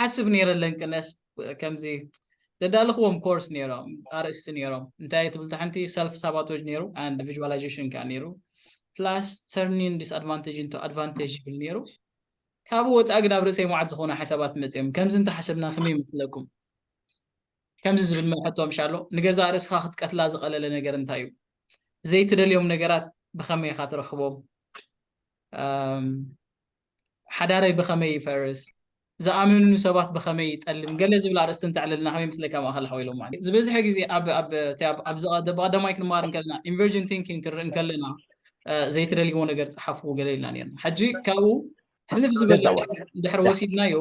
ሓስብ ነይረ ለንቅነስ ከምዚ ዘዳልኽዎም ኮርስ ነይሮም ኣርእስቲ ነይሮም እንታይ ትብል ታሕንቲ ሰልፍ ሳባቶጅ ነይሩ ኣንድ ቪዥዋላይዜሽን ከዓ ነይሩ ፕላስ ተርኒን ዲስኣድቫንቴጅ እንቶ ኣድቫንቴጅ ይብል ነይሩ ካብኡ ወፃኢ ግን ኣብ ርእሰይ መዓት ዝኾኑ ሓሳባት መፅኦም ከምዚ እንተሓሰብና ከመይ ይመስለኩም ከምዚ ዝብል መልሐቶ ምሻ ኣሎ ንገዛ ርእስኻ ክትቀትላ ዝቐለለ ነገር እንታይ እዩ ዘይትደልዮም ነገራት ብኸመይ ኢኻ ትረኽቦም ሓዳረይ ብኸመይ ይፈርስ? ዝኣመኑኒ ሰባት ብኸመይ ይጠልም? ገለ ዝብል ኣርእስቲ እንተዕልልና ከመይ ይመስለካ ማእከል ሓው ኢሎም ማለት እዩ። ዝበዝሐ ግዜ ኣብ ኣብ እቲ ኣብ ኣብ ዝቐ- ብቐዳማይ ክንመሃር እንከለና ኢንቨርጅን ቲንኪንግ ክንርኢ እንከለና እ፣ ዘይትደልይዎ ነገር ጸሓፉ ገለ ኢልና ነይርና። ሕጂ ካብኡ ሕልፍ ዝበለ ገዛዋ ድሕር ድሕር ዳ ወሲድናዮ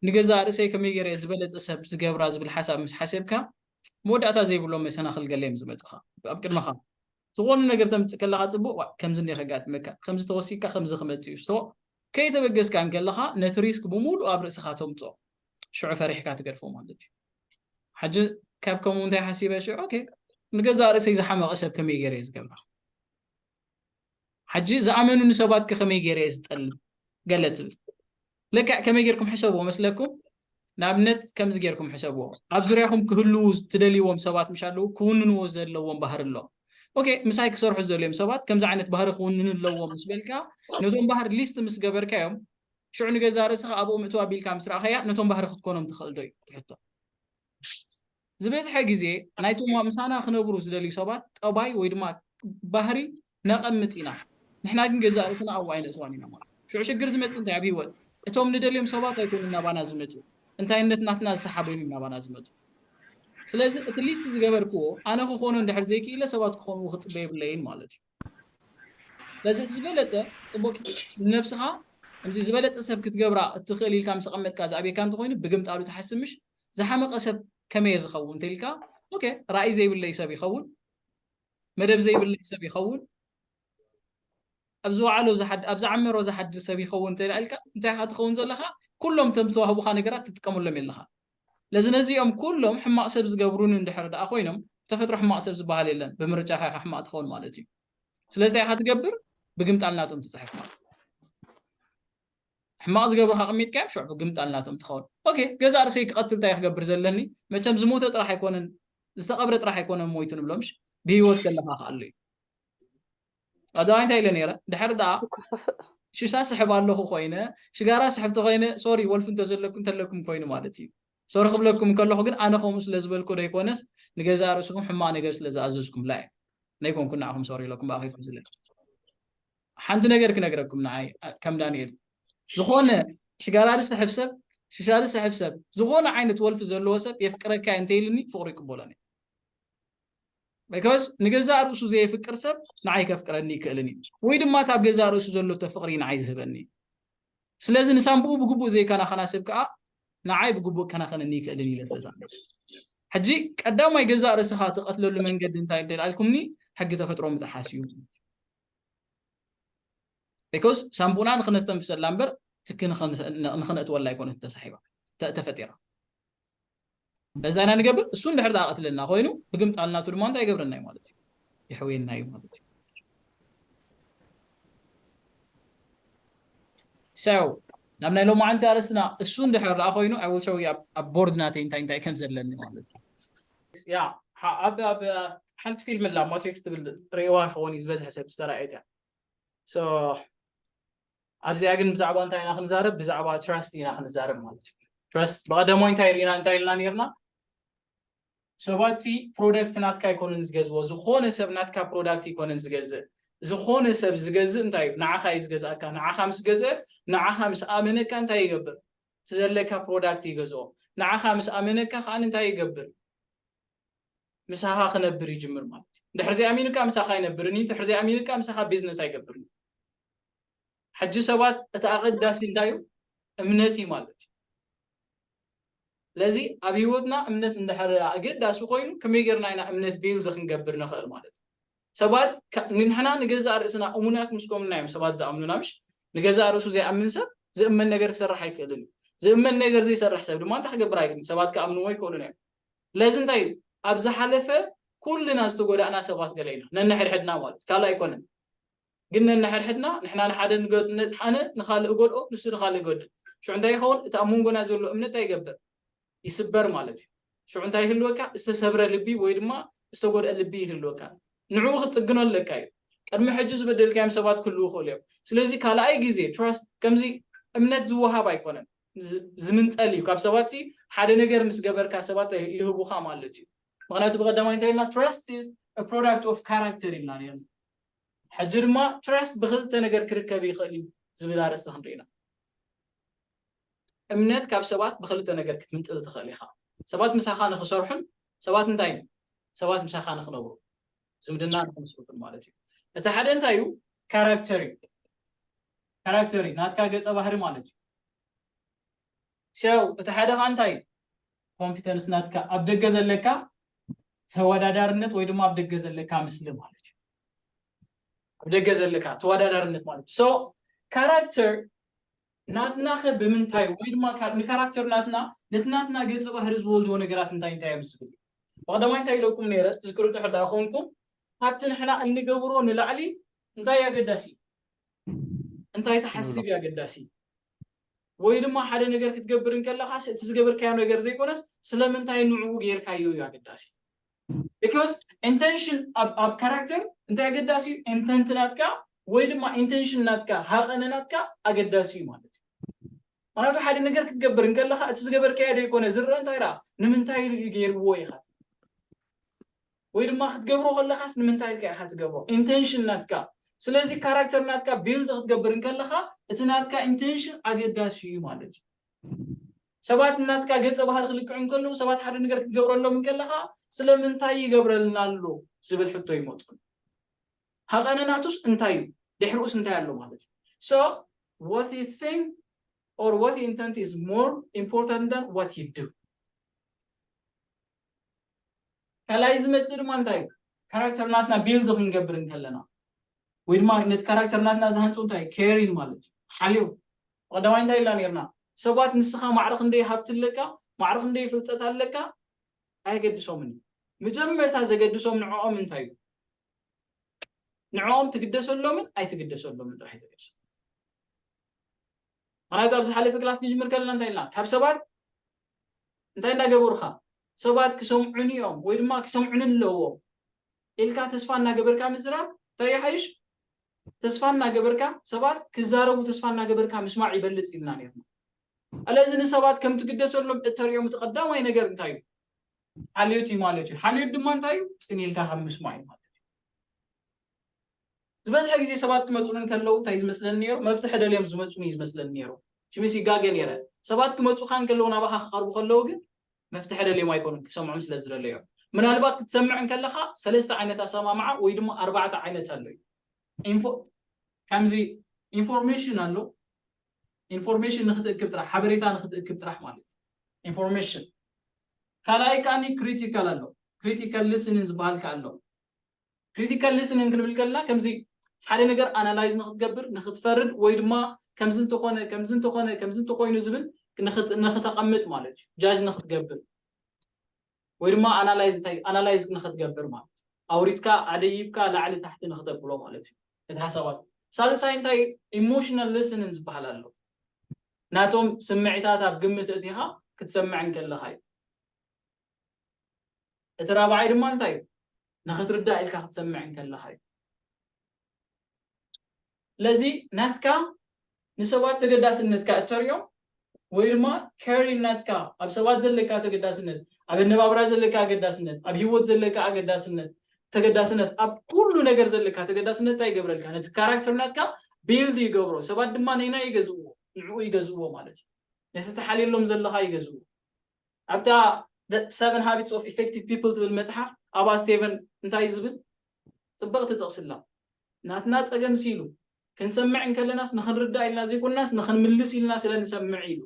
ንገዛእ ርእሰይ ከመይ ገይረ እየ ዝበለጸ ሰብ ዝገብራ ዝብል ሓሳብ ምስ ሓሰብካ መወዳእታ ዘይብሎም መሰናኽል ገለ እዮም ዝመጹኻ ኣብ ቅድመኻ። ዝኾነ ነገር ተምጽእ ከለኻ ጽቡቕ ዋእ ከምዚ እንዲዩ ከጋጥመካ ከምዚ ተወሲካ ከምዚ ክመጽእ እዩ so ከይተበገስካ እንከለኻ ነቲ ሪስክ ብምሉኡ ኣብ ርእስኻ ተምጽኦ ሽዑ ፈሪሕካ ትገድፎ ማለት እዩ ሕጂ ካብ ከምኡ እንታይ ሓሲበ ሽዑ ኦኬ ንገዛእ ርእሰይ ዝሓመቐ ሰብ ከመይ ገይረ እየ ዝገብራ ሐጂ ዝኣመኑኒ ሰባት ከ ከመይ ገይረ እየ ዝጠልም ገለ ትብል ልክዕ ከመይ ገይርኩም ሕሰብዎ መስለኩም ንኣብነት ከምዚ ገይርኩም ሕሰብዎ ኣብ ዙርያኹም ክህልዉ ትደልይዎም ሰባት ምሽ ኣለዉ ክውንንዎ ዘለዎም ባህሪ ኣሎ ኦኬ ምሳይ ክሰርሑ ዝደልዮም ሰባት ከምዚ ዓይነት ባህሪ ክውንኑ ኣለዎም ምስ በልካ ነቶም ባህሪ ሊስት ምስ ገበርካዮም ሽዑ ንገዛ ርእስኻ ኣብኡ ምእትው ኣቢልካ ምስ ረኣኸያ ነቶም ባህሪ ክትኮኖም ትኽእል ዶ እዩ ትሕቶ ዝበዝሐ ግዜ ናይቶም ምሳና ክነብሩ ዝደልዩ ሰባት ጠባይ ወይ ድማ ባህሪ ነቐምጥ ኢና ንሕና ግን ገዛእ ርእስና ኣብኡ ኣይነእትዋን ኢና ማለት እዩ። ሽዑ ሽግር ዝመጽእ እንታይ ኣብ ህይወት እቶም ንደልዮም ሰባት ኣይኮኑን ናባና ዝመጹ እንታይነት ናትና ዝሰሓበዮም እዮም ናባና ዝመጹ። ስለዚ እቲ ሊስት ዝገበርክዎ ኣነ ክኾኖ እንድሕር ዘይክኢለ ሰባት ክኾንዎ ክጽበ የብለይን ማለት እዩ። ስለዚ እቲ ዝበለጸ ጽቡቅ ንነብስኻ ከምዚ ዝበለጸ ሰብ ክትገብራ እትኽእል ኢልካ ምስ ኣቀመጥካ ዝኣብየካ እንተኾይኑ ብግምጣሉ ትሓስብ ምሽ ዝሓመቀ ሰብ ከመይ እየ ዝኸውን እንተኢልካ ኦኬ ራእይ ዘይብለይ ሰብ ይኸውን መደብ ዘይብለይ ሰብ ይኸውን ኣብ ዝወዓሎ ኣብ ዝዓመሮ ዝሓድር ሰብ ይኸውን እንተ ኢልካ እንታይ ኢኻ ትኸውን ዘለኻ ኩሎም ተም ዝተዋህቡኻ ነገራት ትጥቀመሎም የለኻ ስለዚ ነዚኦም ኩሎም ሕማቅ ሰብ ዝገብሩኒ እንድሕር ደኣ ኮይኖም ብተፈጥሮ ሕማቅ ሰብ ዝበሃል የለን ብምርጫካ ኢካ ሕማቅ ትከውን ማለት እዩ ስለዚ እንታይ ኢካ ትገብር ብግምጣል ናቶም ትጽሕፍ ማለት ሕማቅ ዝገብሩካ ቅሚጥካዮም ሽዑ ብግምጣል ናቶም ትኸውን ኦኬ ገዛ ርእሰይ ክቀትል እንታይ ክገብር ዘለኒ መቸም ዝሞተ ጥራሕ ኣይኮነን ዝተቀብረ ጥራሕ ኣይኮነን ሞይቱ ንብሎምሽ ብሂወት ከለካ ከኣሉ እዩ ኣደዋይ እንታይ ኢለ ነይረ ድሕሪ ደኣ ሽሻ ስሕብ ኣለኹ ኮይነ ሽጋራ ስሕብ ተኮይነ ሶሪ ወልፊ እንተዘለኩ እንተለኩም ኮይኑ ማለት እዩ ሶሪ ክብለኩም ከለኹ ግን ኣነ ከምኡ ስለ ዝበልኩ ዶ ይኮነስ ንገዛእ ርእስኹም ሕማቅ ነገር ስለ ዝኣዘዝኩምላ እዩ ናይ ኮንኩ ንዓኹም ሶሪ ኢለኩም ብኣ ከይትሕዝለ ሓንቲ ነገር ክነግረኩም ንዓይ ከም ዳንኤል ዝኾነ ሽጋራ ዝስሕብ ሰብ ሽሻ ዝስሕብ ሰብ ዝኾነ ዓይነት ወልፊ ዘለዎ ሰብ የፍቅረካ እንተይልኒ ፍቅሩ ይቅበሎኒ ቢኮዝ ንገዛእ ርእሱ ዘየፍቅር ሰብ ንዓይ ከፍቅረኒ ይክእልን እዩ ወይ ድማ እታ ኣብ ገዛእ ርእሱ ዘሎቶ ፍቕሪ ንዓይ ዝህበኒ ስለዚ ንሳንብኡ ብግቡእ ዘይከናኸና ሰብ ከዓ ንዓይ ብግቡእ ከናኸነኒ ይክእልን እዩ ለትለታ ሕጂ ቀዳማይ ገዛእ ርእስኻ ትቐትለሉ መንገዲ እንታይ እንተ ኢልኩምኒ ሕጊ ተፈጥሮ ምጥሓስ እዩ ቢኮዝ ሳንቡና ንክነስተንፍሰላ እምበር ትኪ ንክነእትወላ ኣይኮነት ተሳሒባ ተፈጢራ እንደዛ ኢና ንገብር እሱ እንድሕር ደኣ ቀትለና ኮይኑ ብግምጣል ናቱ ድማ እንታይ ይገብረና እዩ ማለት እዩ ይሕውየና እዩ ማለት እዩ ሰው ናብ ናይ ሎማዓንቲ ኣርእስትና እሱ እንድሕር ደኣ ኮይኑ ኣይ ዊል ሾው ዩ ኣብ ቦርድ ናተይ እንታይ እንታይ ከም ዘለኒ ማለት እዩ ያ ኣብ ኣብ ሓንቲ ፊልም ኣላ ማትሪክስ ትብል ርእዋ ይኸውን እዩ ዝበዝሐ ሰብ ዝተረኣየት እያ ኣብዚኣ ግን ብዛዕባ እንታይ ኢና ክንዛረብ ብዛዕባ ትረስት ኢና ክንዛረብ ማለት እዩ ትረስት ብቀደሞ እንታይ ርኢና እንታይ ኢልና ነርና ሰባት ሲ ፕሮደክት ናትካ ኣይኮነን ዝገዝዎ ዝኾነ ሰብ ናትካ ፕሮዳክት ይኮነን ዝገዝእ ዝኾነ ሰብ ዝገዝእ እንታይ እዩ ንዓኻ እዩ ዝገዝኣካ ንዓኻ ምስ ገዘ ንዓኻ ምስ ኣመነካ እንታይ ይገብር ዘለካ ፕሮዳክት ይገዝኦ ንዓኻ ምስ ኣመነካ ከዓ እንታይ ይገብር ምሳኻ ክነብር ይጅምር ማለት እዩ ድሕርዚ ኣሚንካ ምሳኻ ኣይነብርን እዩ ድሕርዚ ኣሚንካ ምሳኻ ቢዝነስ ኣይገብርን እዩ ሕጂ ሰባት እቲ ኣቐዳሲ እንታይ እዩ እምነት እዩ ማለት እዩ ስለዚ ኣብ ህይወትና እምነት እንድሕር ኣገዳሲ ኮይኑ ከመይ ጌርና ኢና እምነት ቢልድ ክንገብር ንኽእል ማለት እዩ ሰባት ንሕና ንገዛእ ርእስና እሙናት ምስ ኮምና እዮም ሰባት ዝኣምኑና ምሽ ንገዛእ ርእሱ ዘይኣምን ሰብ ዝእመን ነገር ክሰርሕ ኣይክእልን እዩ ዝእመን ነገር ዘይሰርሕ ሰብ ድማ እንታይ ክገብር ኣይክእልን ሰባት ክኣምንዎ ይክእሉን እዮም ስለዚ እንታይ እዩ ኣብ ዝሓለፈ ኩልና ዝተጎዳእና ሰባት ገለ ኢና ነንሕድሕድና ማለት ካልእ ኣይኮነን ግን ነንሓድሕድና ንሕና ንሓደ ንገድእ ሓነ ንኻልእ እጎድኦ ንሱ ንኻልእ ይገድእ ሽዑ እንታይ ይኸውን እቲ ኣብ መንጎና ዘሎ እምነት እንታይ ይገብር ይስበር ማለት እዩ ሽዑ እንታይ ይህልወካ ዝተሰብረ ልቢ ወይ ድማ ዝተጎድአ ልቢ ይህልወካ ንዕኡ ክትጽግኖ ኣለካ እዩ ቅድሚ ሕጂ ዝበደልካዮም ሰባት ክህልው ይኽእሉ እዮም ስለዚ ካልኣይ ግዜ ትራስት ከምዚ እምነት ዝወሃብ ኣይኮነን ዝምንጠል እዩ ካብ ሰባት ሲ ሓደ ነገር ምስ ገበርካ ሰባት ይህቡኻ ማለት እዩ ምክንያቱ ብቀዳማይ እንታይ ኢልና ትረስት ፕሮዳክት ኦፍ ካራክተር ኢልና ነርና ሕጂ ድማ ትራስት ብኽልተ ነገር ክርከብ ይኽእል እዩ ዝብል ኣርእስቲ ክንርኢ ኢና። እምነት ካብ ሰባት ብኽልተ ነገር ክትምንጥል ትኽእል ኢኻ። ሰባት ምሳኻ ንኽሰርሑን ሰባት እንታይ ሰባት ምሳኻ ንኽነብሩ ዝምድና ንኽምስርቱን ማለት እዩ። እቲ ሓደ እንታይ እዩ? ካራክተር እዩ። ካራክተር እዩ ናትካ ገፀ ባህሪ ማለት እዩ። ሰው እቲ ሓደ ከዓ እንታይ እዩ ኮንፊደንስ ናትካ ኣብ ደገ ዘለካ ተወዳዳርነት ወይ ድማ ኣብ ደገ ዘለካ ምስሊ ማለት እዩ ኣብ ደገ ዘለካ ተወዳዳርነት ማለት እዩ ሶ ካራክተር ናትና ከ ብምንታይ ወይ ድማ ንካራክተር ናትና ነቲ ናትና ገፀ ባህሪ ዝወልድዎ ነገራት እንታይ እንታይ እዮም ዝብል ብቀዳማይ እንታይ ኢለኩም ነይረ ትዝክሩ ድሕር ዳኣ ኮንኩም ካብቲ ንሕና እንገብሮ ንላዕሊ እንታይ ኣገዳሲ እንታይ ትሓስብ ኣገዳሲ ወይ ድማ ሓደ ነገር ክትገብር እንከለኻስ እቲ ዝገበርካዮ ነገር ዘይኮነስ ስለምንታይ ንዕኡ ጌርካዮ እዩ ኣገዳሲ። Because Intention ኣብ ካራክተር እንታይ ኣገዳሲ እዩ? Intent ናትካ ወይ ድማ Intention ናትካ ሃቐነ ናትካ ኣገዳሲ እዩ ማለት እዩ። ምክንያቱ ሓደ ነገር ክትገብር እንከለኻ እቲ ዝገበርካዮ ዘይኮነ ዝረኣ እንታይ ደኣ ንምንታይ ኢሉ እዩ ገይርዎ ኢኻ ወይ ድማ ክትገብሮ ከለኻስ ንምንታይ ኢልካ ኢኻ ትገብሮ ኢንተንሽን ናትካ ስለዚ ካራክተር ናትካ ቢልድ ክትገብር እንከለኻ እቲ ናትካ ኢንተንሽን ኣገዳሲ እዩ ማለት እዩ ሰባት እናትካ ገጸ ባህሪ ክልክዑ እንከለዉ ሰባት ሓደ ነገር ክትገብረሎም እንከለኻ ስለምንታይ ይገብረልና ኣሎ ዝብል ሕቶ ይመፁ ሃቐነናቱስ እንታይ እዩ ድሕሪኡስ እንታይ ኣሎ ማለት እዩ ሶ what you think or what you intend is more important than what you do ካልኣይ ዝመፅእ ድማ እንታይ እዩ ካራክተር ናትና ቢልድ ክንገብር እንከለና ወይ ድማ ነቲ ካራክተር ናትና ዝሃንፁ እንታይ ኬሪን ማለት እዩ ሓልዮ ቀዳማይ እንታይ ኢልና ነርና ሰባት ንስኻ ማዕረ ክንደይ ሃብቲ ኣለካ ማዕረ ክንደይ ፍልጠት ኣለካ ኣየገድሶምን እዩ መጀመርታ ዘገድሶም ንዕኦም እንታይ እዩ ንዕኦም ትግደሰሎምን ኣይትግደሰሎምን ጥራሕ እዩ ዘገድሶም ምክንያቱ ኣብ ዝሓለፈ ክላስ ክንጅምር ከለና እንታይ ኢልና ካብ ሰባት እንታይ እንዳገበሩካ ሰባት ክሰምዑኒ እዮም ወይ ድማ ክሰምዑኒ ኣለዎም ኢልካ ተስፋ እናገበርካ ምዝራብ እንታይ ይሓይሽ ተስፋ እናገበርካ ሰባት ክዛረቡ ተስፋ እናገበርካ ምስማዕ ይበልፅ ኢልና ነርና ኣለዚ ንሰባት ከም ትግደሰሎም እተርእዮም እቲ ቀዳማይ ነገር እንታይ እዩ ሓልዮት እዩ ማለት እዩ ሓልዮት ድማ እንታይ እዩ ፅን ኢልካ ካብ ምስማዕ እዩ ማለት ዝበዝሐ ግዜ ሰባት ክመጹኒ እንከለዉ እንታይ እዩ ዝመስለኒ ነይሩ? መፍትሒ ደልዮም ዝመጹኒ እዩ ዝመስለኒ ነይሩ። ሽሚስ ይጋገ ነይረ። ሰባት ክመጹኻ እንከለዉ ናባኻ ክቐርቡ ከለዉ ግን መፍትሒ ደልዮም ኣይኮኑን ክትሰምዖም ስለ ዝደለዮም። ምናልባት ክትሰምዕ እንከለኻ ሰለስተ ዓይነት ኣሰማምዓ ወይ ድማ ኣርባዕተ ዓይነት ኣሎ እዩ። ኢንፎ ከምዚ ኢንፎርሜሽን ኣሎ ኢንፎርሜሽን ንክትእክብ ጥራሕ ሓበሬታ ንክትእክብ ጥራሕ ማለት እዩ ኢንፎርሜሽን ካልኣይ ከዓኒ ክሪቲካል ኣሎ ክሪቲካል ሊስኒን ዝበሃል ከ ኣሎ Critical listening ክንብል ከለና ከምዚ ሓደ ነገር ኣናላይዝ ንክትገብር ንክትፈርድ ወይ ድማ ከምዚ እንተኾነ ከምዚ እንተኾነ ከምዚ እንተኾይኑ ዝብል ንክተቐምጥ ማለት እዩ ጃጅ ንክትገብር ወይ ድማ ኣናላይዝ እንታይ ኣናላይዝ ንክትገብር ማለት ኣውሪትካ ኣደይብካ ላዕሊ ታሕቲ ንክተብሎ ማለት እዩ እቲ ሓሳባት ሳልሳይ እንታይ ኢሞሽናል ሊስንን ዝበሃል ኣሎ ናቶም ስምዒታት ኣብ ግምት እቲኻ ክትሰምዕ እንከለኻ እዩ እቲ ራብዓይ ድማ እንታይ እዩ? ንኽትርዳእ ኢልካ ክትሰምዕ እንከለኻ እዩ። ስለዚ ናትካ ንሰባት ተገዳስነትካ እተርእዮ ወይ ድማ ኬሪን ናትካ ኣብ ሰባት ዘለካ ተገዳስነት፣ ኣብ ኣነባብራ ዘለካ ኣገዳስነት፣ ኣብ ህይወት ዘለካ ኣገዳስነት ተገዳስነት ኣብ ኩሉ ነገር ዘለካ ተገዳስነት እንታይ ይገብረልካ? ነቲ ካራክተር ናትካ ቢልድ ይገብሮ። ሰባት ድማ ነናይ ይገዝእዎ፣ ንዕኡ ይገዝእዎ ማለት እዩ። ነቲ ተሓልየሎም ዘለኻ ይገዝእዎ። ኣብታ The Seven Habits of Effective People ትብል መጽሓፍ ኣባ ስቴቨን እንታይ ዝብል ጽብቕቲ ጥቕሲ ኣላ። ናትና ጸገምሲ ኢሉ፣ ክንሰምዕ እንከለናስ ንኽንርዳእ ኢልና ዘይኮናስ ንኽንምልስ ኢልና ስለ ንሰምዕ ኢሉ።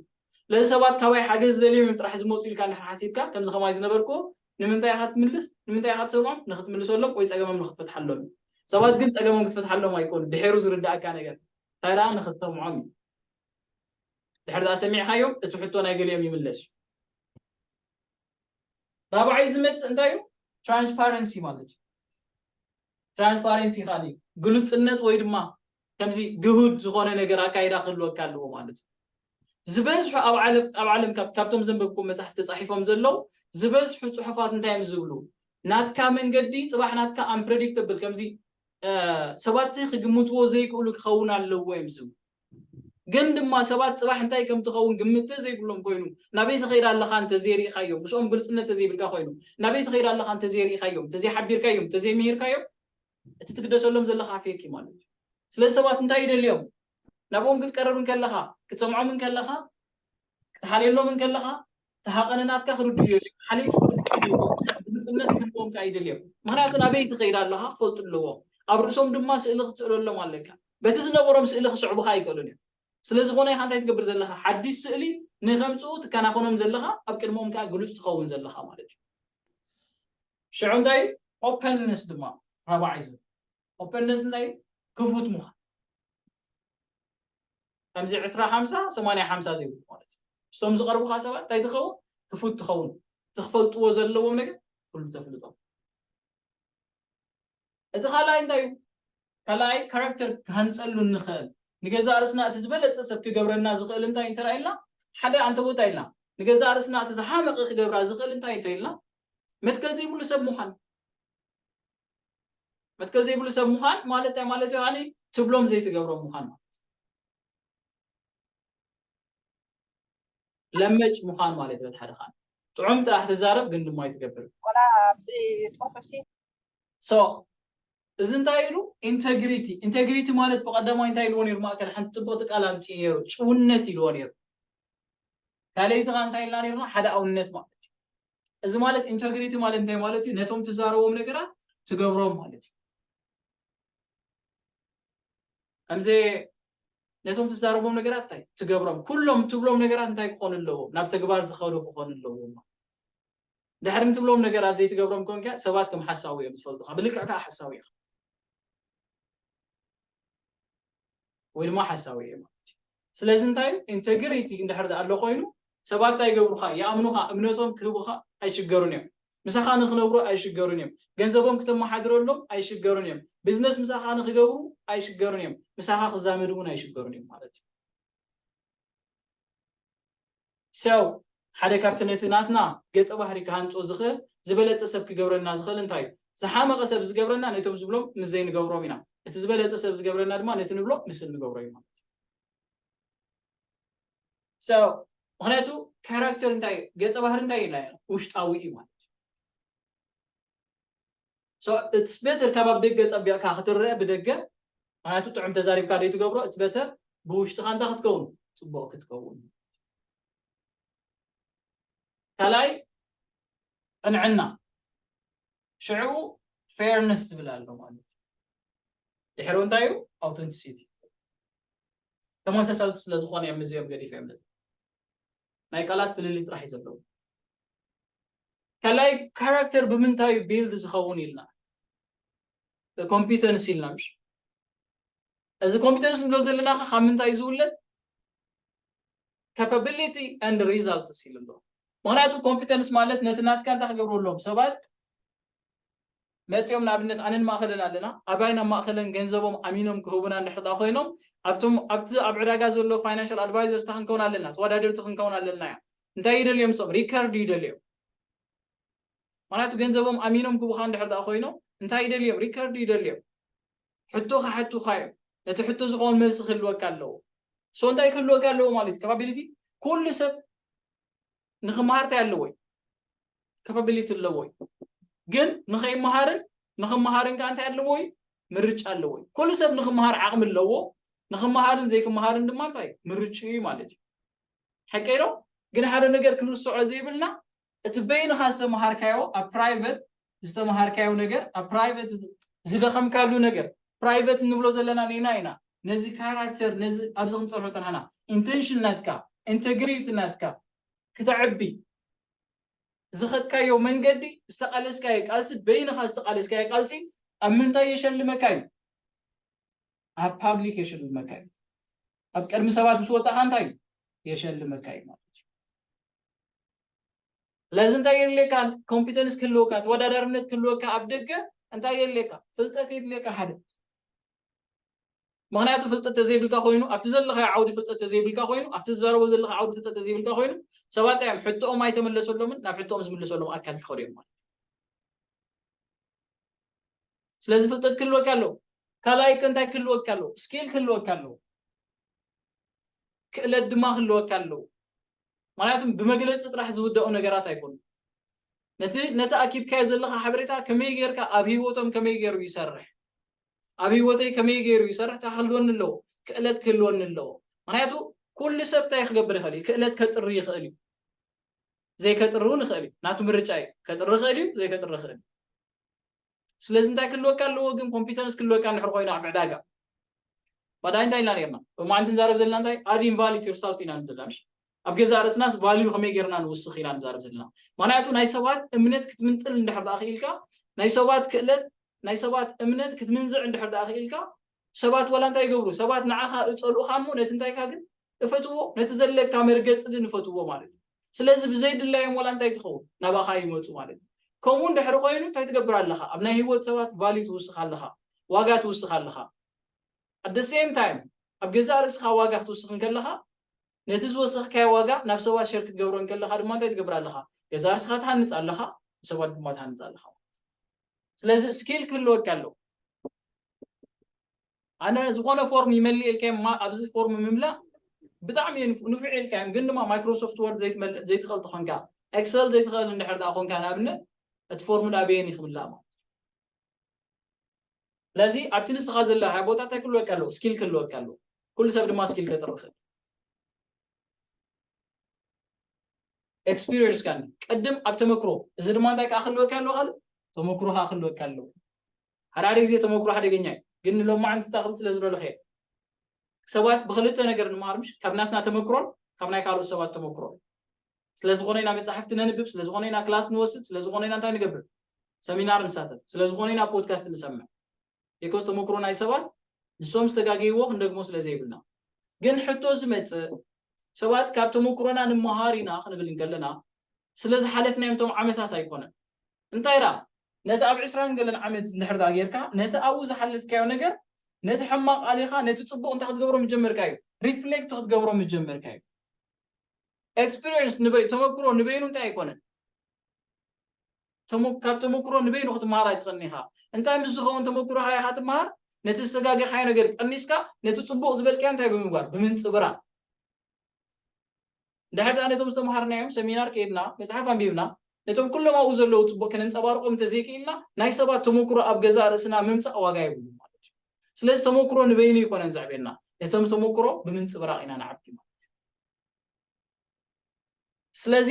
ስለዚ ሰባት ካባይ ሓገዝ ደልዮም እዮም ጥራሕ ዝመጹ ኢልካ እንድሕር ሓሲብካ ከምዚ ከማይ ዝነበርክዎ ንምንታይ ኢኻ ትምልስ ንምንታይ ኢኻ ትሰምዖም ንኽትምልሰሎም ወይ ጸገሞም ንኽትፈትሓሎም እዩ። ሰባት ግን ጸገሞም ክትፈትሓሎም ኣይኮኑን ድሒሩ ዝርድኣካ ነገር እንታይ ደኣ ንኽትሰምዖም እዩ። ድሕሪ ድኣ ሰሚዕካዮም እቲ ሕቶ ናይ ገሊኦም ይምለስ እዩ። ራብዓይ ዝመጽእ እንታይ እዩ? ትራንስፓረንሲ ማለት እዩ። ትራንስፓረንሲ ካሊ ግሉጽነት ወይ ድማ ከምዚ ግሁድ ዝኾነ ነገር ኣካይዳ ክህልወካ ኣለዎ ማለት እዩ። ዝበዝሑ ኣብ ዓለም ኣብ ዓለም ካብቶም ዘንበብኩም መጽሓፍ ተጻሒፎም ዘለዉ ዝበዝሑ ጽሑፋት እንታይ እዮም ዝብሉ? ናትካ መንገዲ ጽባሕ ናትካ ኣምፕረዲክተብል ከምዚ ሰባት ክግምትዎ ዘይክእሉ ክኸውን ኣለዎ እዮም ዝብሉ። ግን ድማ ሰባት ጽባሕ እንታይ ከም ትኸውን ግምት እንተ ዘይብሎም ኮይኑ፣ ናበይ ትኸይድ ኣለኻ እንተ ዘይርኢኻዮም፣ ምስኦም ግልጽነት እንተ ዘይብልካ ኮይኑ፣ ናበይ ትኸይድ ኣለኻ እንተ ዘይርኢኻዮም፣ እንተ ዘይሓቢርካዮም፣ እንተ ዘይምሂርካዮም፣ እቲ ትግደሰሎም ዘለኻ ፌክ እዩ ማለት እዩ። ስለዚ ሰባት እንታይ ይደልዩ እዮም? ናብኦም ክትቀርብ እንከለኻ፣ ክትሰምዖም እንከለኻ፣ ክትሓልየሎም እንከለኻ፣ እቲ ሃቐነ ናትካ ክርድኡ የድልዮም፣ ሓለይቲ ክርድኡ የድልዮም፣ ግሉጽነት ክህልዎም ከኣ ይደልዮም። ምኽንያቱ ናበይ ትኸይድ ኣለኻ ክፈልጡ ኣለዎም። ኣብ ርእሶም ድማ ስእሊ ክትስእለሎም ኣለካ። በቲ ዝነበሮም ስእሊ ክስዕቡኻ ኣይክእሉን እዮም። ስለዝኾነ ኢኻ እንታይ ትገብር ዘለኻ ሓድሽ ስእሊ ንከምጽኡ ትከናኸኖም ዘለኻ፣ ኣብ ቅድመኦም ከኣ ግሉጽ ትኸውን ዘለኻ ማለት እዩ። ሽዑ እንታይ እዩ? ኦፐንነስ ድማ ራብዓይ ዝብል ኦፐንነስ እንታይ እዩ ክፉት ምዃን ከምዚ ዕስራ ሓምሳ ሰማንያ ሓምሳ ዘይብሉ ማለት እዩ እሶም ዝቐርቡካ ሰባት እንታይ ትኸውን ክፉት ትኸውን ዝክፈልጥዎ ዘለዎም ነገር ኩሉ ተፍልጦ እቲ ካልኣይ እንታይ እዩ ካልኣይ ካራክተር ክሃንፀሉ እንኽእል ንገዛእ ርእስና እቲ ዝበለፀ ሰብ ክገብረና ዝኽእል እንታይ እንተ ኢልና ሓደ ኣንተ ቦታ ኢልና ንገዛእ ርእስና እቲ ዝሓመቐ ክገብራ ዝኽእል እንታይ እንተ ኢልና መትከል ዘይብሉ ሰብ ምዃን መትከል ዘይብሉ ሰብ ምዃን ማለት እንታይ ማለት እዩ ከዓኒ ትብሎም ዘይትገብሮም ምዃን ማለት ለመጭ ምዃን ማለት እዩ ሓደ ኻን ጥዑም ጥራሕ ትዛረብ ግን ድማ ይትገብር ሶ እዚ እንታይ ኢሉ ኢንተግሪቲ ኢንተግሪቲ ማለት ብቀዳማይ እንታይ ኢልዎ ነይሩ ማእከል ሓንቲ ፅብቕቲ ቃል ኣምፅኡ ነይሩ ጭውነት ኢልዎ ነይሩ ካልኣይቲ ኸ እንታይ ኢልና ነይርና ሓደ ኣውነት ማለት እዩ እዚ ማለት ኢንተግሪቲ ማለት እንታይ ማለት እዩ? ነቶም ትዛረቦም ነገራት ትገብሮም ማለት እዩ። ከምዚ ነቶም ትዛረቦም ነገራት እንታይ ትገብሮም፣ ኩሎም ትብሎም ነገራት እንታይ ክኾኑ ኣለዎም? ናብ ተግባር ዝኸዱ ክኾኑ ኣለዎም። ድሕሪ ንትብሎም ነገራት ዘይትገብሮም ኮንካ ሰባት ከም ሓሳዊ እዮም ዝፈልጡኻ፣ ብልክዕ ከዓ ሓሳዊ ኢኻ። ወይ ድማ ሓሳዊ እየ ማለት እዩ ስለዚ እንታይ ኢንተግሪቲ እንድሕር ዳኣ ኣሎ ኮይኑ ሰባት እንታይ ይገብሩኻ ይኣምኑኻ እምነቶም ክህቡኻ ኣይሽገሩን እዮም ምሳኻ ንክነብሩ ኣይሽገሩን እዮም ገንዘቦም ክተመሓድረሎም ኣይሽገሩን እዮም ቢዝነስ ምሳኻ ንክገብሩ ኣይሽገሩን እዮም ምሳኻ ክዛመዱ እውን ኣይሽገሩን እዮም ማለት እዩ ሰው ሓደ ካብቲ ነቲ ናትና ገጸ ባህሪ ክሃንጾ ዝኽእል ዝበለጸ ሰብ ክገብረና ዝኽእል እንታይ እዩ? ዝሓመቐ ሰብ ዝገብረና ነቶም ዝብሎም ምስ ዘይንገብሮም ኢና። እቲ ዝበለጸ ሰብ ዝገብረና ድማ ነቲ ንብሎ ምስ እንገብሮ እዩ ማለት እዩ። ሰው ምኽንያቱ ካራክተር እንታይ እዩ? ገጸ ባህሪ እንታይ እዩ? ውሽጣዊ እዩ ማለት እዩ። so it's better ካብ ኣብ ደገ ጸቢቕካ ክትረኣ ብደገ ምክንያቱ ጥዑም ተዛሪብካ ደይ ትገብሮ it's better ብውሽጥኻ እንታይ ክትከውን ጽቡቕ ክትከውን ካልኣይ ቅንዕና ሽዑ ፌርነስ ዝብል ኣሎ ማለት ድሕሪ እንታይ እዩ ኣውተንቲሲቲ ተመሳሳልቲ ስለ ዝኾነ እዮም እዚኦም ገዲፈ እዮም ናይ ቃላት ፍልልይ ጥራሕ እዩ ዘለዎ። ካልኣይ ካራክተር ብምንታይ እዩ ቢልድ ዝኸውን ኢልና ኮምፒተንስ ኢልና ምሽ እዚ ኮምፒተንስ ንብሎ ዘለና ከ ካብ ምንታይ እዩ ዝውለድ ካፓቢሊቲ ኣንድ ሪዛልትስ ኢሉ ኣሎ ምክንያቱ ኮምፒተንስ ማለት ነቲ ናትካ እንታይ ክገብሩ ኣለዎም ሰባት መጺኦም ንኣብነት ኣነን ማእከልን ኣለና ኣባይን ኣብ ማእከለን ገንዘቦም ኣሚኖም ክህቡና እንድሕር ድኣ ኮይኖም ኣብቶም ኣብቲ ኣብ ዕዳጋ ዘሎ ፋይናንሻል ኣድቫይዘርስታ ክንከውን ኣለና ተወዳደርቲ ክንከውን ኣለና እዮም እንታይ ይደልዮም ሶም ሪከርድ ይደልዮም ምክንያቱ ገንዘቦም ኣሚኖም ክቡካ እንድሕር ድኣ ኮይኖም እንታይ ይደልዮም ሪከርድ ይደልዮም ሕቶ ክሓቱካ እዮም ነቲ ሕቶ ዝኸውን መልሲ ክህልወካ ኣለዎ ሶ እንታይ ክህልወካ ኣለዎ ማለት እዩ ከባቢሊቲ ኩሉ ሰብ ንክመሃር እንታይ ኣለዎ እዩ ካፓቢሊቲ ኣለዎ እዩ ግን ንኸይመሃርን ንኽመሃርን ከዓ እንታይ ኣለዎ እዩ ምርጫ ኣለዎ እዩ ኩሉ ሰብ ንኽመሃር ዓቕሚ ኣለዎ ንኽመሃርን ዘይክመሃርን ድማ እንታይ እዩ ምርጭኡ እዩ ማለት እዩ ሓቀይ ዶ ግን ሓደ ነገር ክንርስዖ ዘይብልና እቲ በይንኻ ዝተመሃርካዮ ኣብ ፕራይቨት ዝተመሃርካዮ ነገር ኣብ ፕራይቨት ዝደኸምካሉ ነገር ፕራይቨት እንብሎ ዘለና ኔና ኢና ነዚ ካራክተር ነዚ ኣብዚ ክንፀርሖ ፅናሕና ኢንቴንሽን ናትካ ኢንቴግሪቲ ናትካ ክተዕቢ ዝኸድካዮ መንገዲ፣ ዝተቓለስካዮ ቃልሲ፣ በይንኻ ዝተቓለስካዮ ቃልሲ ኣብ ምንታይ የሸልመካ እዩ? ኣብ ፓብሊክ የሸልመካ እዩ። ኣብ ቅድሚ ሰባት ምስ ወፃእኻ እንታይ እዩ የሸልመካ እዩ ማለት እዩ። ስለዚ እንታይ የድልየካ? ኮምፒተንስ ክህልወካ፣ ተወዳዳርነት ክህልወካ ኣብ ደገ እንታይ የድልየካ? ፍልጠት የድልየካ ሓደ ምኽንያቱ ፍልጠት ተዘይብልካ ኮይኑ ኣብቲ ዘለኻዮ ዓውዲ ፍልጠት ተዘይብልካ ኮይኑ ኣብቲ ትዛረቦ ዘለኻ ዓውዲ ፍልጠት ተዘይብልካ ኮይኑ ሰባት እንታይ እዮም ሕቶኦም ኣይተመለሰሎምን ናብ ሕቶኦም ዝምልሰሎም ኣካል ክኸዱ እዮም ማለት ስለዚ ፍልጠት ክህልወካ ኣለዎ ካልኣይ ከ እንታይ ክህልወካ ኣለዎ ስኪል ክህልወካ ኣለዎ ክእለት ድማ ክህልወካ ኣለዎ ምክንያቱ ብመግለፂ ጥራሕ ዝውዳኡ ነገራት ኣይኮኑ ነቲ ነቲ ኣኪብካዮ ዘለካ ሓበሬታ ከመይ ጌርካ ኣብ ሂወቶም ከመይ ገይሩ ይሰርሕ ኣብ ሂወተይ ከመይ ጌሩ ይሰርሕ ከክህልወኒ ኣለዎ ክእለት ክህልወኒ ኣለዎ ምክንያቱ ኩሉ ሰብ እንታይ ክገብር ይክእል እዩ ክእለት ከጥሪ ይክእል እዩ ዘይከጥሪ እውን ይክእል እዩ ናቱ ምርጫ እዩ ከጥሪ ይክእል እዩ ዘይከጥሪ ይክእል እዩ ስለዚ እንታይ ክህልወካ ኣለዎ ግን ኮምፒተንስ ክህልወካ እንድሕር ኮይኑ ኣብ ዕዳጋ ባዳይ እንታይ ኢልና ነርና ብማዓንቲ ንዛረብ ዘለና እንታይ ኣድ ኢንቫሊት ዩርሳልፍ ኢና ዘለና ምሽ ኣብ ገዛእ ርእስናስ value ከመይ ጌርና ንውስኽ ኢና ንዛረብ ዘለና። ምኽንያቱ ናይ ሰባት እምነት ክትምንጥል እንድሕር ደኣ ክኢልካ፣ ናይ ሰባት ክእለት፣ ናይ ሰባት እምነት ክትምንዝዕ እንድሕር ደኣ ክኢልካ፣ ሰባት ወላ እንታይ ይገብሩ፣ ሰባት ንዓኻ እጸልኡኻ እሞ ነቲ እንታይካ ግን እፈትዎ፣ ነቲ ዘለካ መርገጺ ግን እፈትዎ ማለት እዩ። ስለዚ ብዘይድላዮም ወላ እንታይ ትኸውን ናባኻ ይመጹ ማለት እዩ። ከምኡ እንድሕሪ ኮይኑ እንታይ ትገብር ኣለኻ፣ ኣብ ናይ ህይወት ሰባት value ትውስኽ ኣለኻ፣ ዋጋ ትውስኽ ኣለኻ። At the same time ኣብ ገዛእ ርእስኻ ዋጋ ክትውስኽ እንከለኻ፣ ነቲ ዝወሰኽካዮ ዋጋ ናብ ሰባት ሸር ክትገብሮ እንከለኻ ድማ እንታይ ትገብር ኣለኻ? ገዛእ ርእስኻ ትሃንጽ ኣለኻ፣ ንሰባት ድማ ትሃንጽ ኣለኻ ማለት እዩ። ስለዚ ስኪል ክህልወካ ኣለዎ። ኣነ ዝኾነ ፎርም ይመልእ ኢልካዮም እማ ኣብዚ ፎርም ምምላእ ብጣዕሚ እዩ ንፍ- ንፉዕ ኢልካዮም ግን ድማ ማይክሮሶፍት ወርድ ዘይትመልእ ዘይትኽእል ተኾንካ ኤክሰል ዘይትኽእል እንድሕር ደኣ ኮንካ ንኣብነት እቲ ፎርም ንኣበየን እዩ ክምላእ ማለት እዩ። ስለዚ ኣብቲ ንስኻ ዘለኻዮ ቦታ እንታይ ክህልወካ ኣለዎ? ስኪል ክህልወካ ኣለዎ። ኩሉ ሰብ ድማ ስኪል ከጥሪ ይኽእል። ኤክስፒሪየንስ ካን ቅድም ኣብ ተመክሮ እዚ ድማ እንታይ ከዓ ክህልወካ ኣለዎ ካልእ ተመክሮ ከዓ ክህልወካ ኣለዎ። ሓደ ሓደ ግዜ ተመክሮ ሓደገኛ እዩ፣ ግን ንሎማዓንቲ እንታይ ክብል ስለ ዝደለኹ እየ ሰባት ብክልተ ነገር ንምሃር ምሽ ካብ ናትና ተመክሮን ካብ ናይ ካልኦት ሰባት ተመክሮን ስለዝኾነ ኢና መጻሕፍቲ ነንብብ፣ ስለዝኾነ ኢና ክላስ ንወስድ፣ ስለዝኾነ ኢና እንታይ ንገብር? ሰሚናር ንሳተፍ፣ ስለዝኾነ ኢና ፖድካስት ንሰምዕ። ቢኮዝ ተመክሮ ናይ ሰባት ንሶም ዝተጋገይዎ ክንደግሞ ስለዘይብልና። ግን ሕቶ ዝመጽእ ሰባት ካብ ተመክሮና ንመሃር ኢና ክንብል እንከለና ስለዝሓለፍናዮም እቶም ዓመታት ኣይኮነን። እንታይ ደኣ ነቲ ኣብ ዕስራን ገለን ዓመት እንድሕር ደኣ ጌርካ ነቲ ኣብኡ ዝሓለፍካዮ ነገር ነቲ ሕማቕ ኣሊኻ ነቲ ጽቡቕ እንታይ ክትገብሮ ምጀመርካ እዩ ሪፍሌክት ክትገብሮ ምጀመርካ እዩ ኤክስፒሪየንስ ንበይ ተመክሮ ንበይኑ እንታይ ኣይኮነን ካብ ተመክሮ ንበይኑ ክትመሃር ኣይትኽእልን ኢኻ እንታይ ምስ ዝኸውን ተመክሮኻ ኢኻ ትመሃር ነቲ ዝተጋገኻዮ ነገር ቀኒስካ ነቲ ፅቡቕ ዝበልካዮ እንታይ ብምግባር ብምንፅብራ እንድሕር ድኣ ነቶም ዝተምሃርናዮም ሰሚናር ከይድና መፅሓፍ ኣንቢብና ነቶም ኩሎም ኣብኡ ዘለዉ ፅቡቕ ክንንፀባርቆም እንተዘይክኢልና ናይ ሰባት ተመክሮ ኣብ ገዛእ ርእስና ምምፃእ ዋጋ የብሉ ማለት እዩ ስለዚ ተመኩሮ ንበይኑ ኣይኮነን ዘዕብየና፣ ነቶም ተመኩሮ ብምንጽብራቕ ኢና ንዓብዮም። ስለዚ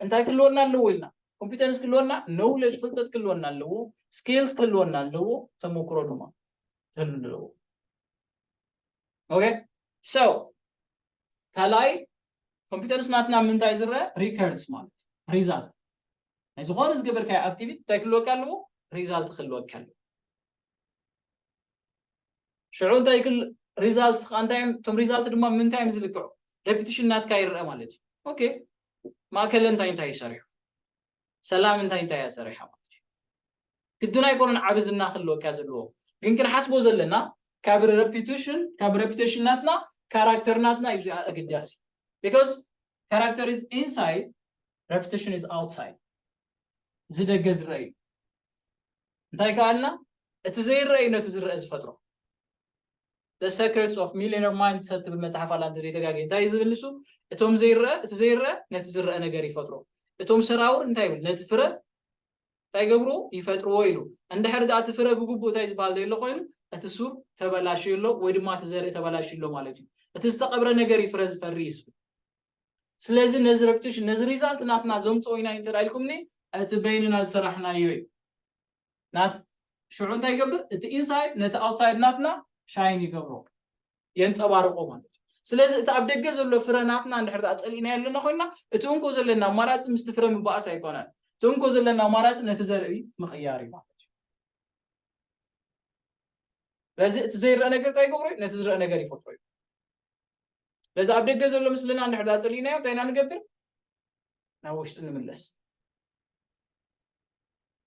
እንታይ ክህልወና ኣለዎ ኢልና ኮምፒተንስ ክህልወና፣ ኖውለጅ ፍልጠት ክህልወና ኣለዎ፣ ስኪልስ ክህልወና ኣለዎ፣ ተመኩሮ ድማ ክህሉ ኣለዎ። ኦኬ ሶ ካልኣይ ኮምፒተንስ ናትና ምንታይ ዝረአ ሪከርድስ ማለት ሪዛልት ናይ ዝኾነ ዝገበርካዮ ኣክቲቪቲ እንታይ ክህልወካ ኣለዎ ሪዛልት ክህልወካ ኣለዎ ሽዑ እንታይ ክል ሪዛልት ከዓ እንታይ እዮም እቶም ሪዛልት ድማ ምንታይ እዮም ዝልክዑ ሬፒቲሽን ናትካ ይረአ ማለት እዩ ኦኬ ማእከለ እንታይ እንታይ እዩ ሰሪሑ ሰላም እንታይ እንታይ እያ ሰሪሓ ማለት እዩ ግድን ኣይኮነን ዓብ ዝና ክህልወካ ዘለዎ ግን ክንሓስቦ ዘለና ካብ ሬፒቲሽን ካብ ሬፒቴሽን ናትና ካራክተር ናትና እዩ ኣገዳሲ ቢካዝ ካራክተር ኢዝ ኢንሳይድ ሬፒቲሽን ኢዝ ኣውትሳይድ እዚ ደገ ዝረአ እዩ። እንታይ ከኣ ኣልና እቲ ዘይረአ እዩ ነቲ ዝረአ ዝፈጥሮ። The Secrets of Millionaire Mind ሰብ ትብል መጽሓፍ ኣላ እንተዘይተጋግየ እንታይ እዩ ዝብል ንሱ እቶም ዘይረአ እቲ ዘይረአ ነቲ ዝረአ ነገር ይፈጥሮ እቶም ሰራውር እንታይ ይብል ነቲ ፍረ እንታይ ገብርዎ ይፈጥርዎ ኢሉ እንድሕር ድኣ እቲ ፍረ ብግቡእ እንታይ ዝበሃል ዘየሎ ኮይኑ እቲ ሱር ተበላሽዩ ኣሎ ወይ ድማ እቲ ዘርኢ ተበላሽዩ ኣሎ ማለት እዩ እቲ ዝተቐብረ ነገር እዩ ፍረ ዝፈሪ እዩ ዝብል ስለዚ ነዚ ረፕቲሽን ነዚ ሪዛልት ናትና ዘምጽኦ ኢና እንተ ኢልኩምኒ እቲ በይንና ዝሰራሕናዮ እዩ ናት ሽዑ እንታይ ይገብር እቲ ኢንሳይድ ነቲ ኣውትሳይድ ናትና ሻይን ይገብሮ የንጸባርቆ ማለት ስለዚ እቲ ኣብ ደገ ዘሎ ፍረ ናትና እንድሕር ኣ ፀሊእናዮ ኣለና ኮይና እቲ እንኮ ዘለና ኣማራፂ ምስቲ ፍረ ምባእስ ኣይኮነን እቲ እንኮ ዘለና ኣማራፂ ነቲ ዘርኢ ምቕያር እዩ ማለት እዩ ስለዚ እቲ ዘይረአ ነገር እንታይ ይገብሮ ነቲ ዝረአ ነገር ይፈጥሮ እዩ ነዚ ኣብ ደገ ዘሎ ምስልና እንድሕር ዛፅሊእናዮ እንታይ ኢና ንገብር ናብ ውሽጢ ንምለስ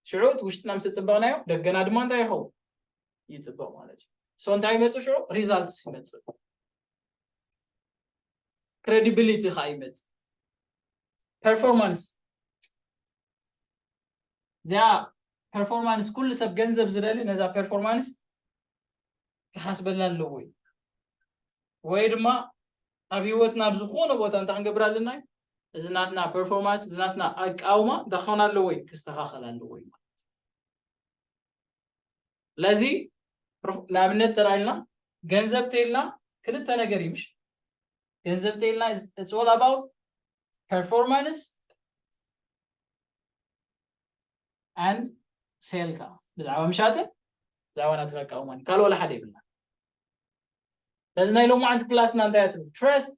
ሽዑ እቲ ውሽጥና ምስ ፅበቕናዮ ደገና ድማ እንታይ ይኸውን ይፅበቕ ማለት እዩ ሶ እንታይ ይመፅእ ሽዑ ሪዛልትስ ይመፅእ ክሬዲቢሊቲ ከዓ ይመፅእ ፐርፎርማንስ እዚኣ ፐርፎርማንስ ኩሉ ሰብ ገንዘብ ዝደሊ ነዛ ፐርፎርማንስ ክሓስበላ ኣለዎ እዩ ወይ ድማ ኣብ ሂወትና ኣብ ዝኾነ ቦታ እንታይ ክንገብር ኣለና እዩ እዚ ናትና ፐርፎርማንስ እዚ ናትና ኣቃውማ እንታይ ክኸውን ኣለዎ እዩ ክስተኻኸል ኣለዎ እዩ ማለት ስለዚ ንኣብነት ተራኢልና ገንዘብ ተይልና ክልተ ነገር እዩ ምሽ ገንዘብ ተይልና እፅወል ኣባውት ፐርፎርማንስ ኣንድ ሴል ከዓ ብዛዕባ ምሻጥን ብዛዕባ ናትካ ኣቃውማን እዩ ካልእ ዋላ ሓደ ይብልና ነዚ ናይ ሎማዓንቲ ክላስና እንታይ ትብል ትረስት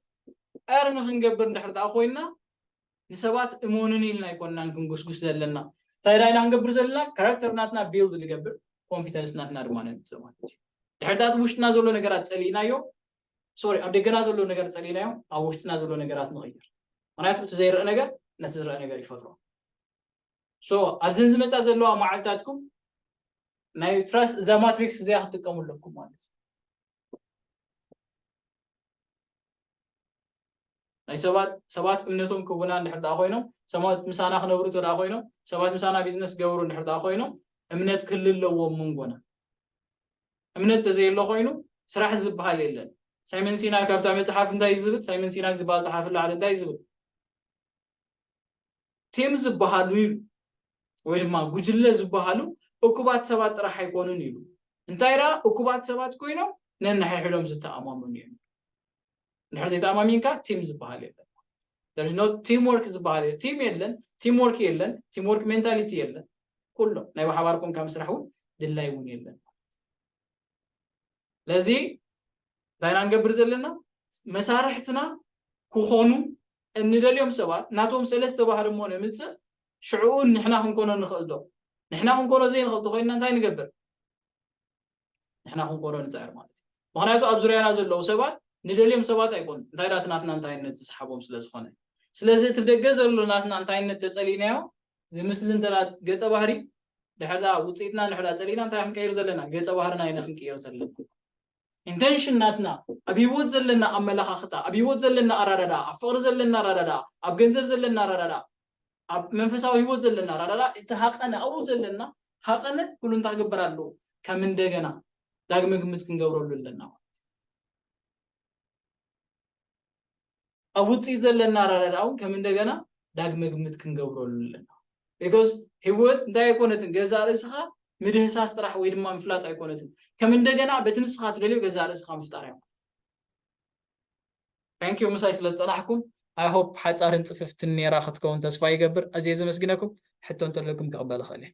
ቀርኒ ክንገብር እንድሕር ዳኣ ኮይና ንሰባት እመኑኒ ኢልና ኣይኮናን ክንጉስጉስ ዘለና እንታይ ዳኢና ክንገብር ዘለና ካራክተር ናትና ቢልድ ንገብር ኮንፊደንስ ናትና ድማ ነምፅእ ማለት እዩ ድሕርታት ውሽጥና ዘሎ ነገራት ፀሊእናዮ ሶሪ ኣብ ደገና ዘሎ ነገር ጸሊናዮ ኣብ ውሽጥና ዘሎ ነገራት ንቕይር ምክንያቱ እቲ ዘይርአ ነገር ነቲ ዝርአ ነገር ይፈጥሮ ሶ ኣብዘን ዝመፃ ዘለዋ መዓልታትኩም ናይ ትራስ እዛ ማትሪክስ እዚኣ ክትጥቀሙ ኣለኩም ማለት እዩ ናይ ሰባት ሰባት እምነቶም ክውና እንድሕር ደኣ ኮይኖም ሰባት ምሳና ክነብሩ እንተ ኮይኖም ሰባት ምሳና ቢዝነስ ክገብሩ እንድሕር ደኣ ኮይኖም እምነት ክህሉ ኣለዎም መንጎና እምነት ተዘየሎ ኮይኑ ስራሕ ዝበሃል የለን ሳይመን ሲናክ ኣብታ መፅሓፍ እንታይ ዝብል ሳይመን ሲናክ ዝበሃል ፀሓፊ ላዕሊ እንታይ ዝብል ቲም ዝበሃሉ ኢሉ ወይ ድማ ጉጅለ ዝበሃሉ እኩባት ሰባት ጥራሕ ኣይኮኑን ኢሉ። እንታይ ደኣ እኩባት ሰባት ኮይኖም ነንሓሕዶም ዝተኣማመኑ እዮም። እንድሕር ዘይተኣማሚንካ ቲም ዝበሃል የለን። there is no teamwork ዝበሃል የለን ቲም የለን ቲም ወርክ የለን ቲም ወርክ ሜንታሊቲ የለን ኩሎም ናይ ብሓባር ኮንካ ምስራሕ እውን ድላይ እውን የለን ለዚ እንታይ ኢና ንገብር ዘለና መሳርሕትና ክኾኑ እንደልዮም ሰባት ናቶም ሰለስተ ባህሪ እሞ ነምፅእ ሽዕኡ ንሕና ክንኮኖ ንኽእል ዶ ንሕና ክንኮኖ ዘይንኽእል ተኮይንና እንታይ ንገብር ንሕና ክንኮኖ ንፅዕር ማለት እዩ ምክንያቱ ኣብ ዙርያና ዘለዉ ሰባት ንደልዮም ሰባት ኣይኮኑ እንታይ ዳት ናትና እንታይነት ዝሰሓቦም ስለ ዝኾነ ስለዚ እቲ ብደገ ዘሎ ናትና እንታይነት ተፀሊእናዮ ዝምስል እንተ ገጸ ባህሪ ድሕር ውፅኢትና ድሕር ፀሊእና እንታይ ክንቀይር ዘለና ገጸ ባህርና ኢና ክንቅይር ዘለና ኢንቴንሽን ናትና ኣብ ሂወት ዘለና ኣመለኻኽታ ኣብ ሂወት ዘለና ኣራዳዳ ኣብ ፍቕሪ ዘለና ኣራዳዳ ኣብ ገንዘብ ዘለና ኣራዳዳ ኣብ መንፈሳዊ ሂወት ዘለና ኣራዳዳ እቲ ሃቐነ ኣብኡ ዘለና ሃቐነ ኩሉ እንታይ ግበር ኣለዎ ከም እንደገና ዳግመ ግምት ክንገብረሉ ኣለና ኣብ ውጽኢት ዘለና ኣረዳድኣ እውን ከም እንደገና ዳግመ ግምት ክንገብረሉ ኣለና because ህይወት እንታይ ኣይኮነትን ገዛእ ርእስኻ ምድህሳስ ጥራሕ ወይ ድማ ምፍላጥ ኣይኮነትን ከም እንደገና በቲ ንስኻ ትደልዮ ገዛእ ርእስኻ ምፍጣር እያ ታንኪዩ ምሳይ ስለ ዝፀናሕኩም ኣይሆፕ ሓፃርን ፅፍፍትን ነይራ ክትከውን ተስፋ ይገብር ኣዝየ ዘመስግነኩም ሕቶ እንተለኩም ክቕበል እኽእል እየ